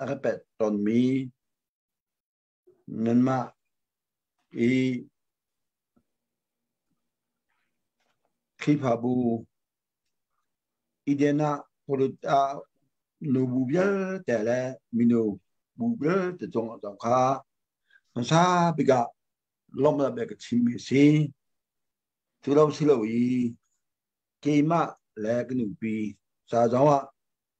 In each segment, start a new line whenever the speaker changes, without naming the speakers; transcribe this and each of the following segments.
a ka pet tonmi nanmah i Khrihfabu iden ah polut ah nu bu vialte le minu bu vialte cung zong kha hmasa bikah lawmh la bek chimmi a si tu lo si lo i keimah le ka nupi sa zong ah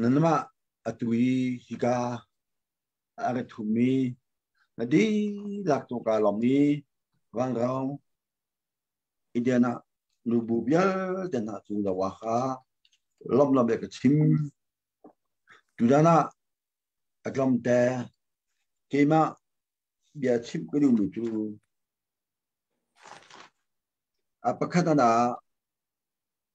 Nanmah atu i hika a ka thummi na dihlak tawka lawng i vanrau iden ah nubu vialte hna cu lo ah kha lomlam le ka chim. Tutan ah a tlawmte keimah bia chimh ka duhmi cu a pakhat ah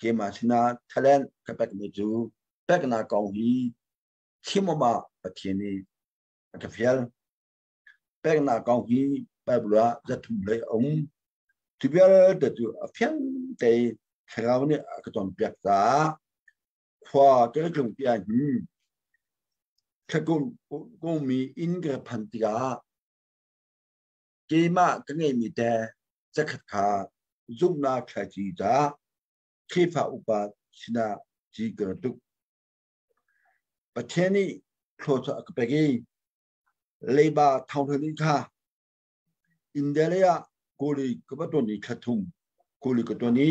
keimah sinah talent ka pekmi cu peknak kong hi chimawm ah Pathian nih a ka fial. Peknak kong hi Bible ah zathum lei a um. Cu vialte cu a fiang te thlarau nih a ka cawnpiak caah khua ka ka tlung piah hin thlakum kungmi inn ka phan tikah keimah ka ngeimi te zakhat kha
zumhnak thlaci ca Khrihfa upa sinah ci ka tuk. Pathian nih thlawcha a ka pek i leiba thonghlun in kha India lei ah kuli ka va ton i thlathung kuli ka ton i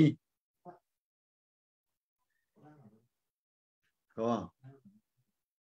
ko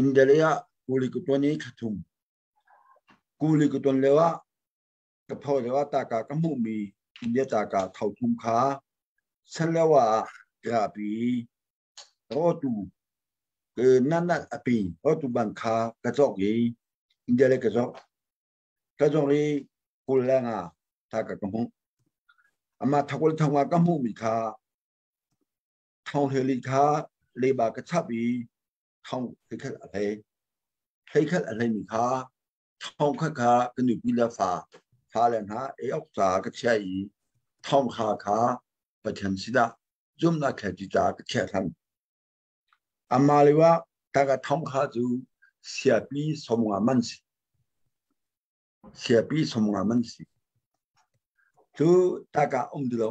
Indale ah kuli ku ton i thla thum. Kuli ku ton leo ah ka pho leo ah taka ka hmuhmi India taka thau thum kha san leo ah rapi rotu nan at api rotu ban kha ka cawk i India le ka cawk. Ka cawk i kul leng ah taka ka hmuh. Ama thakul thangwa ka hmuhmi kha Thonghleili kha leiba ka chap i
thong hleikhat a hlei. Hleikhat a hleimi kha thong khat kha ka nupi le fa fale hna ei awk ca ka chiah i thong kha kha pathian sidah zumnak thlet ci ca ka chiah than. Amah le wa taka thong kha cu siapi somnga man si. Siapi somnga man si. Cu taka um dulo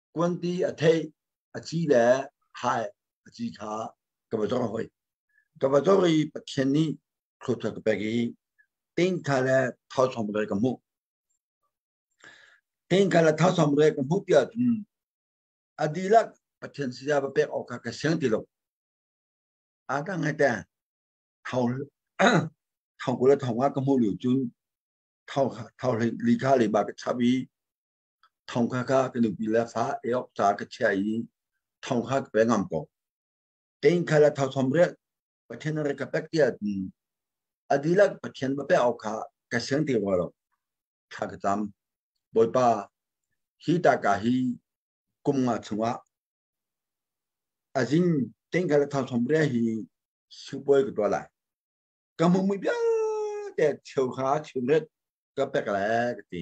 kuanti a theih a ci le hai a ci kha ka ba zong hoi ka ba zong i pathian nih khlut ka pek i ting kha le thau som re ka mu ting kha le thau som re ka mu tia cun adilak pathian si da ba pek ok kha ka seng ti lo a ta ngai te thau thau ku le thau nga ka mu liu cun thau thau li kha li ba ka chap i thong kha ka ka nupi le fa e ok ta ka chia i thong kha ka pe ngam ko tein kha la thau thom re pathian re ka pek tia ti adilak pathian ba pe au kha ka seng ti wa lo kha ka tam boipa hi ta ka hi kum nga chunga azin tein kha la thau thom re hi supoi ka to lai ka mong mi bia te cheu kha cheu ret ka pek le ka ti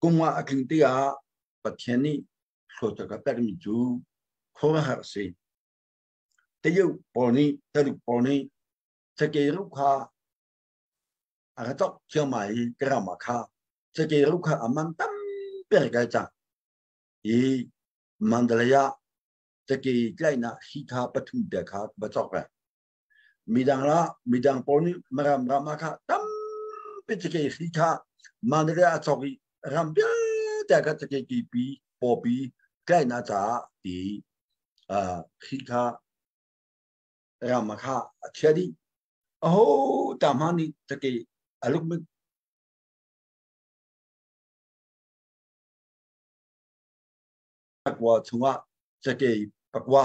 Kum nga a tling te ah Pathian nih hlotak a permi cu khuaruahhar a si. Tayuk pawl nih, Tayuk pawl nih cakei ruk kha a ka tok thiama i ka rama kha cakei ruk kha a man tampi a kai cang. I Mandalaya cakei tlaihnak hi kha pathum te kha va cok re. midang la midang pawl nih maram ram ah kha tampi cake hri kha man ri a chok i ram vialte kha cake ki pi popi kai na ta ti hri kha ram kha a chia di a ho ta ma ni cake aluk mit pakwa chunga cake pakwa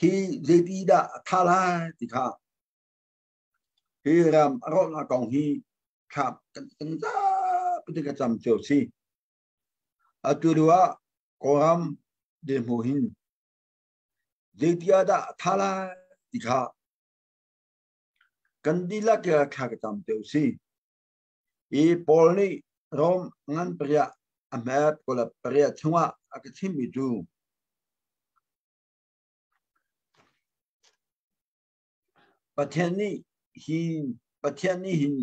hi zeipi dah a tha lai ti kha hi ram a rawhnak kong hi thlak kan kan zapi ka cam cio si atu ruah kawram demo hin zeitia dah tha lai ti kha kan dihlak ya thla ka tam teu si Mi Paul nih Rom ngan pariah a hmet kula pariah chungah a ka chimmi cu Pathian nih hi Pathian nih hin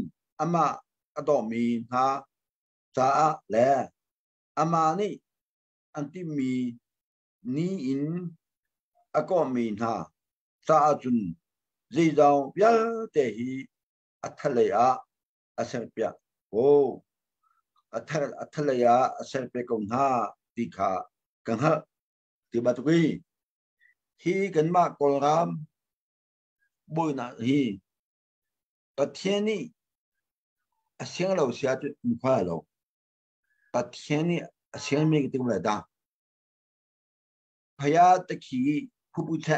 amah a dawmi hna caah le amah nih an timmi ni in a kawhmi hna caah cun zeizong vialte hi a thalei ah a serpiak Aw, a thal a thalei ah a serpiak ko hna ti kha ka hngalh ti batuk i hi kanmah kawlram buainak hi Pathian nih a siang lo sia cu khwa lo Pathian nih a siang mi ka tum le da phaya ta khi phu pu che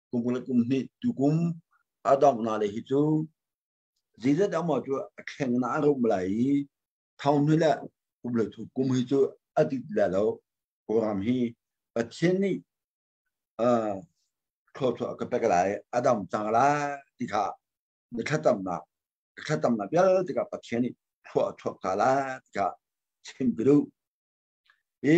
kum le kum hnih tukum a dong na le hi cu Jesus amao cu a thleng na a rum lai i thong nu le kum le thu kum hi cu a ti la lo kuram hi Pathian nih thlawthlawh ka pek lai a dam cang lai ti kha na thatamnak na thatamnak vialte ka Pathian nih thlawh thlawh ka lai ti kha chim ka duh i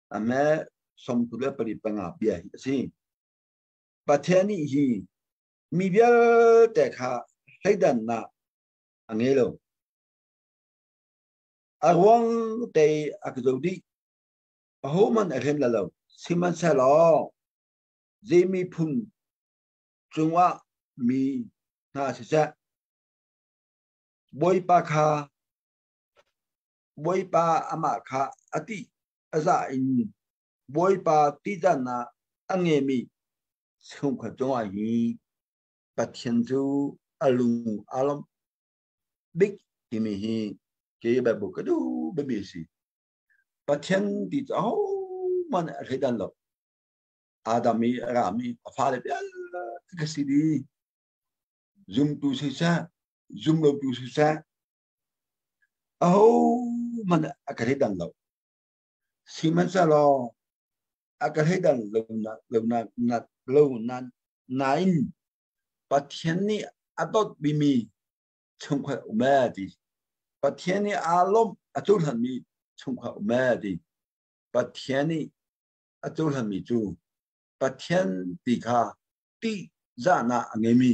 ame sawmtu le pari panga bia hi a si pathian nih hi mi vialte kha hleidannak a ngei lo a ruang te a ka zo dih ho man a hlen la lo sihmanhsehlaw zei miphun cungah mi hna siseh bawipa kha Bawipa amah kha a ti a za in Bawipa tidan ah a ngemi chungkhat cungah hi Pathian cu a lung a lom bik timi hi ke Bible ka du bami si Pathian ti cu ho man a thleidan lo Adam i ram i a fale vialte ka si di zumtu siseh zumlotu siseh Ahohmanh a ka thleidan lo. Sihmanhsehlaw a ka thleidan lo nak lo nak nak lo nan nain Pathian nih a dawtmi mi chungkhat um e ti. Pathian nih aa lawmh a cohlanmi chungkhat um e ti. Pathian nih a cohlanmi cu Pathian ti kha tihzahnak a ngeimi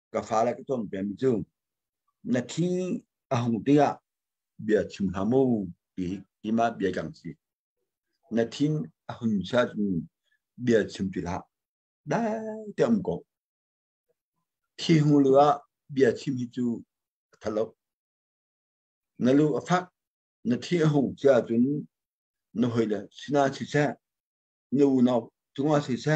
ka fale ka ton pem cu na thi a hung tiah bia chim hamu ti ti ma bia kang si na thin a hun sa cu bia chim ti la dai te um ko thi hu lu a bia chim hi cu thalo na lu a fak na thi a hung cha cun na hoi le sina si se na unau tunga si se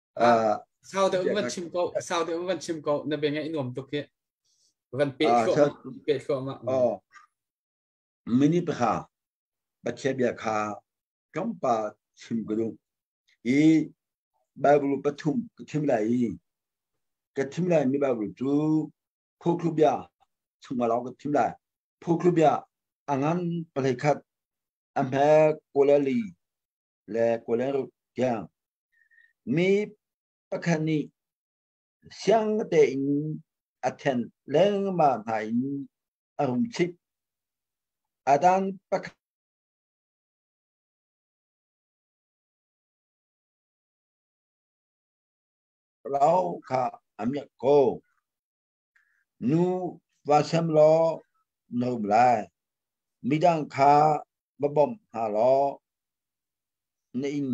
uh,
sau deuh van chim ko sau deuh van chim ko na beng i nuam tuk hi van pe thluah pe thluah ma oh
mini pha pathian bia kha kan pa chim ko du i bible pathum ka thim lai ka thim lai mi bible chu phu club ya chungma lao ka thim lai phu club ya angan palai khat amhe kolali le kuleruk tiang mi pakhat nih siang tein a then lengmang hna in a hung chip a dan pakhat rau kha a miak ko Nu va sem law no lai, midang kha va bawmh hna law na in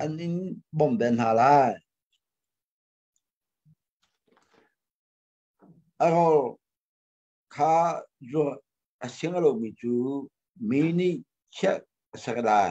an in bawmh ve hna lai. A rawl kha zuah a sing a lomi cu mi nih chiah a sak lai.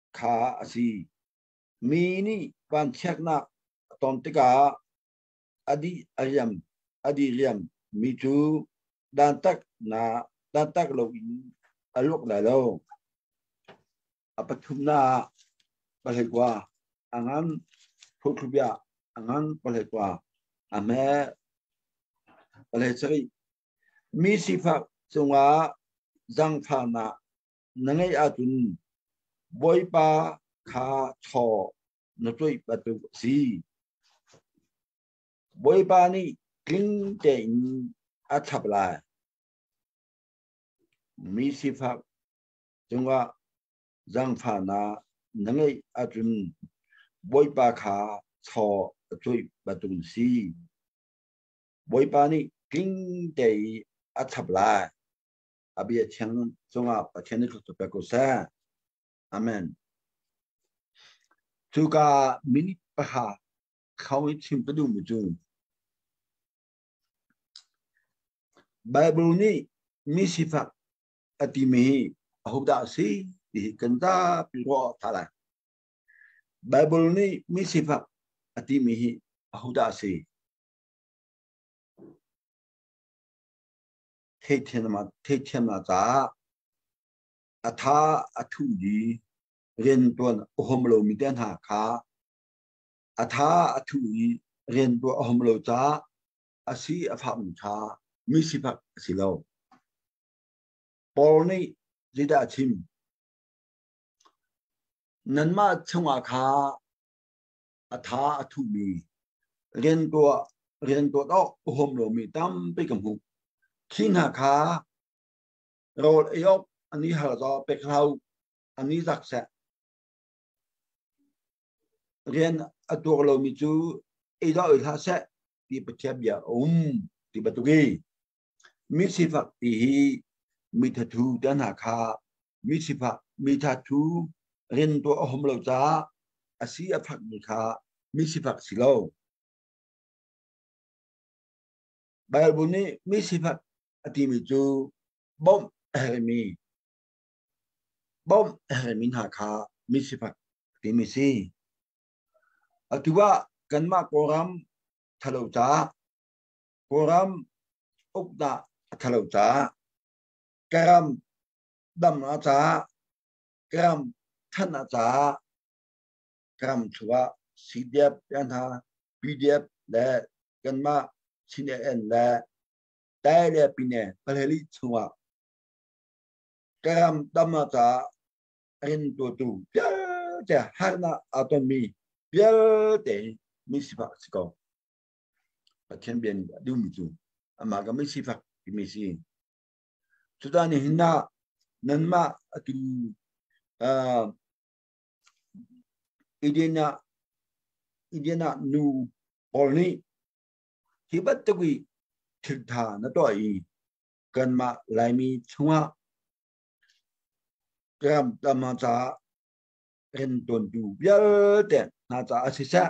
kha a si. Mi nih vanchiatnak a ton tikah a dih a riam a dih riam mi cu dantat na dantat lo in a luak lai lo. A pathumnak palai kwa a ngan phothlubia a ngan palai kwa a me palai chai mi sifak cungah zangfahnak na ngeih ahcun Bawipa kha chaw na tuih batuk a si. Bawipa nih tling tein a chap lai. Mi sifak cungah zangfahnak na ngeih ahcun Bawipa kha chaw a tuih batuk si. Bawipa nih tling tein a chap lai. a bia cheng cungah Pathian i thlutu pek u seh. Amen. Cuka minute pahra kho i chim ka duh mu cu. Bible nih mi sifak a timi hi ahodah a si ti hi kan zapi ruah tha lai. Bible nih mi sifak a timi hi ahodah a si? theihthiamnak caah a tha a thu di riantuan a hom lo mi te hna kha a tha a thu i riantuan a hom lo caah a si a fak mi kha mi sifak a si lo Paul nih zidah a chim nanmah chungah kha a tha a thuhmi riantuah riantuat awk a huam lomi tampi ka hmuh khi hna kha rawl ei awk an i hal zaw pek hau an i zak seh rian a tuak lomi cu ei dah oi hlah seh ti pathian bia a um ti batuk i Misifak ti hi mithathu te hna kha misifak mithathu rin tuah a hum lo caah a si a fakmi kha misifak si lo. Baibal nih misifak a timi cu bawmh a hermi bawmh a hermi hna kha misifak timi si. Atu ah kanmah kawlram thalo caah Kawlram uk dah a thalo ca, karam dam a ca, karam than a ca, karam chungah CDF hna PDF le kanmah CNN le tai le pine palheli chungah karam dam a ca rin tutu vialte harnak a tonmi vialte mi sifak si ko. Pathian bia nih a duhmi cu amah ka mi sifak timi si. Cuta ni hin na nanmah atu uh, Idina Idina nu Paul nih hi battagui thiltha na to i kanmah laimi chungah ram tama ca kan tontu vialte hna ca a si seh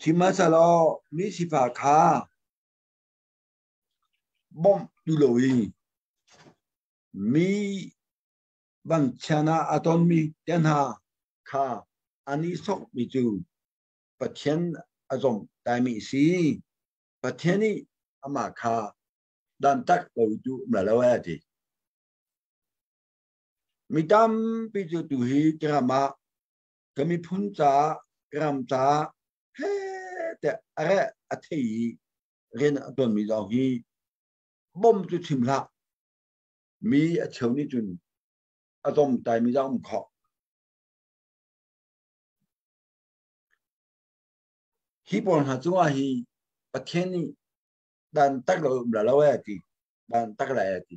Sihmanhsehlaw mi sifah kha bawmh tu lo i mi vanchian ah a tonmi te hna kha an i sokmi cu Pathian a zomh taimi a si. Pathian nih amah kha dantat lo cu um lo a ti. Mi tampi cu tuhi kiram ah kan miphun caah ram caah he tiah a reh a thei i rian a tuanmi zong hi bom cu chim hlah mi a cheu nih cun a zomtai mi zong um khawh hi pawl hna cungah hi Pathian nih dan tak lo um la lo e ti dan tak la e ti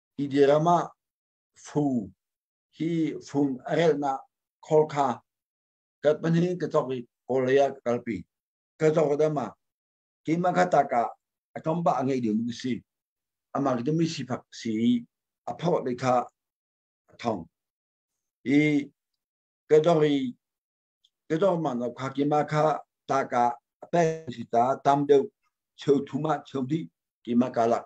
Idea ram ah fu hi fung a relhnak khol kha kat panhin ka chok i kawl lei ah ka kalpi ka chok ka dama keima kha taka atombah a ngei ding a si amah ke mi sifak si i a phawt le kha a thong i ka dong i ka dong man lo kha kima kha taka a pek si ta tam deuh cheu thuma cheu di kima kalak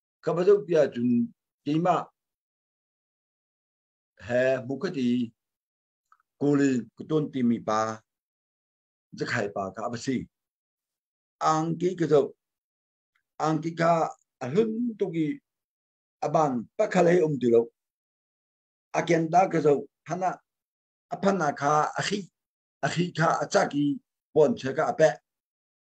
ka va zoh piah cun keimah he bukhati kuli ka tuan timi pa zakhai pa ka va si angki ka zoh angki ka a hlun tuk i aban pakhat hei um ti lo a ken da ka zo phana a phana kha a khi a khi kha a chak i puan che ka a peh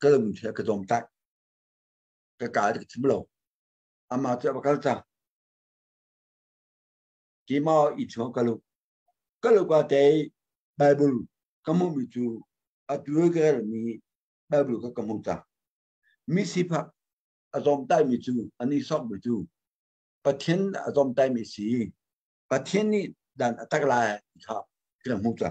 ka lung khi ka dom tak ka ka ka thim lo ama chu ba kal ta ki ma i cho ka lu ka lu ka te bible ka mu mi chu atu ka mi bible ka ka mu ta mi sipa azom tai mi chu ani sok mi chu pathin azom tai mi si pathin ni dan atak lai kha kila mu ta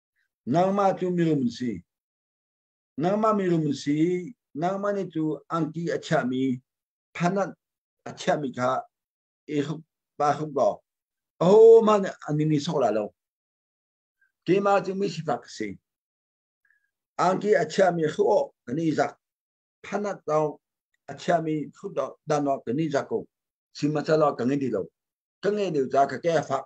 Nangmah cu mirum si. Nangmah mirum si nangmah nih cu angki a chiahmi phanat a chiahmi kha i hruk pa hruk law ahohmanh nih an ningni sawk lai lo. Keimah cu misifak si. Angki a chiahmi hruk awh kan i zak. Phanat dong a chiahmi hruk dan awh kan i zak ko. Sihmahsehlaw ka ngei ti lo. Ka ngeih deuh caah ka ke a fak.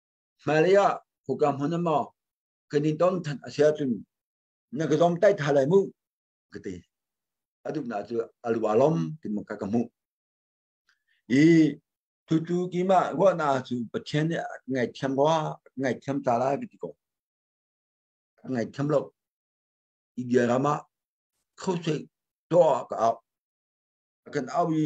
hmailei ah huka hmun maw kan in ton than a sia cun na ka zom tai tha lai mu ka ti aduk na cu alwa lom tim ka ka mu i tu tu ki ma wa na chu pathian ne ngai thiam wa ngai thiam ta la ki ko ngai thiam lo i bia rama khosai to ka au kan au i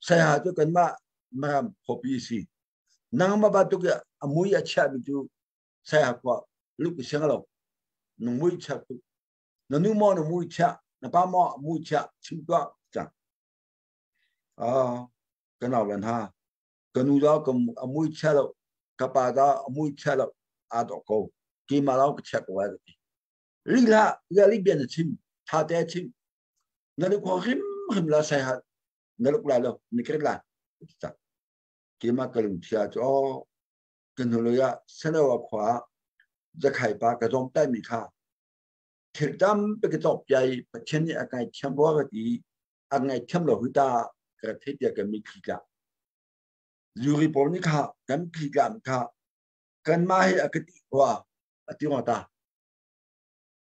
saya cu kanmah maram phopi si nangma batuk a mui a chia mi cu saya kwa luk seng lo nung mui chia tu na nu mo na mui chia na pa mo mui chia chim tua chang a kan au lan ha kanu da kam a mui chia lo ka pa da a mui chia lo a do ko ki ma lao ka chia ko wa ti ri la ya li bien chim tha te chim na luk ho him him la sai hat na luk la lo ni kret la ta ki ma ka lung thia cho kan hulu ya sanawa khwa zakhai pa ka zom tai mi kha thil tam pe ke top yai pathian ni akai thiam bo ga ti angai thiam lo huta ka thei tia ka mi khi ka yuri pom ni kha kan khi ka ka kan ma he akati wa ati ngota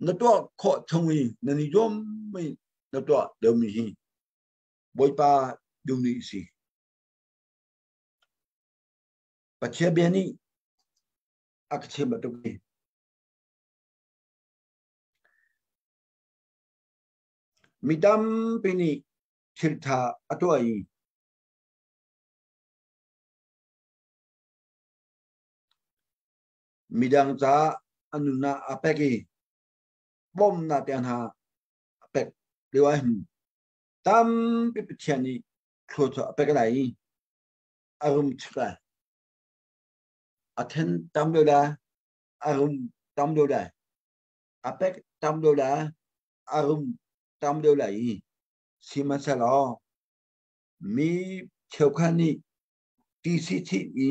na tuah khawh chung i na ni zuam mai na tuah deumi hi bawipa dumi si Pathian bia nih a ka chim batuk hi mi tampi nih thiltha a tuah i midang ca an nun ah a pek i bawmnak te hna a pek leo ai hnu tampi pathian nih thlo cu a pek lai i a rum chak lai a then tam lo da a rum tam lo da a pek tam lo da a rum tam lo lai i sihmanhsehlaw mi cheukhat nih TCT i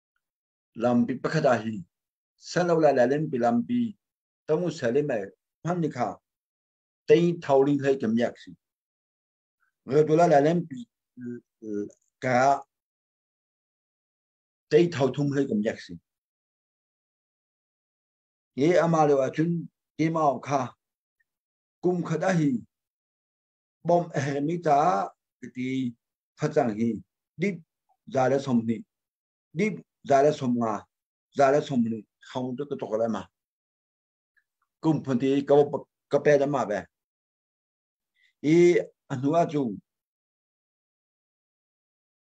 lampi pakhat ah hi sano la la len pi lampi tamu sali mai phan ni kha tei thawli hlei kem yak si ngờ tu la la len pi ka tei thau thung hlei kem yak si ye ama le wa chun ke ma kha kum khat a hi bawmh a hermi caah ti facang hi dip za le som hnih dip za le som nga za le som ni khong tu ka tok le ma kum phun ti ka ka pe da ma be i a hnu a chu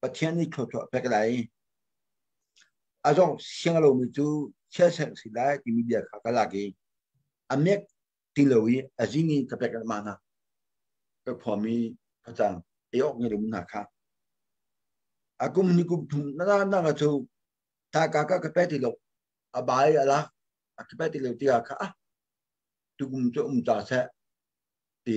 Pathian nih thluachuah pek lai. A zong siang lomi cu chia sek si lai timi bia kha ka lak i a mek ti lo i a zing in ka pek mah na ka khuam i phacang ei awk ngai lomi hna kha a kum ni kum thum na na na cu ta ka ka ka pe ti lo a bai ala a ka pe ti lo ti ka a tukum chu um ta se ti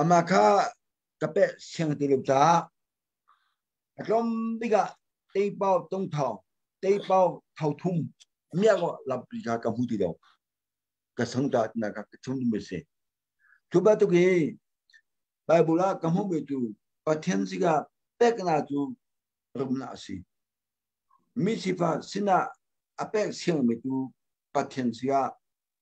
Amah kha ka peh siang ti lo caah a tlawm bikah teipau tung thawng teipau thau thum miak lampi kha ka hmu ti lo ka sang ta na ka chung dum se cu ba tuk hi Bible ah ka hmu be tu Pathian sika pekna cu rumna asi mi sifa sinah a pek siang mi tu Pathian sia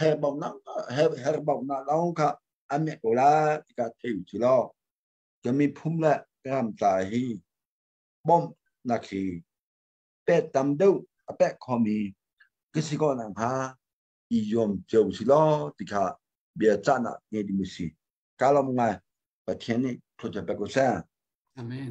her baunak her her baunak lawng kha an me ko la ti ka thei chi lo ka mi phum la ram ta hi bom na khi pe tam deu a pe khomi kisi ko nang ha i yom cheu si lo ti kha bia cha na nge di mi si kalam ngai pathian ni thu cha pe ko sa amen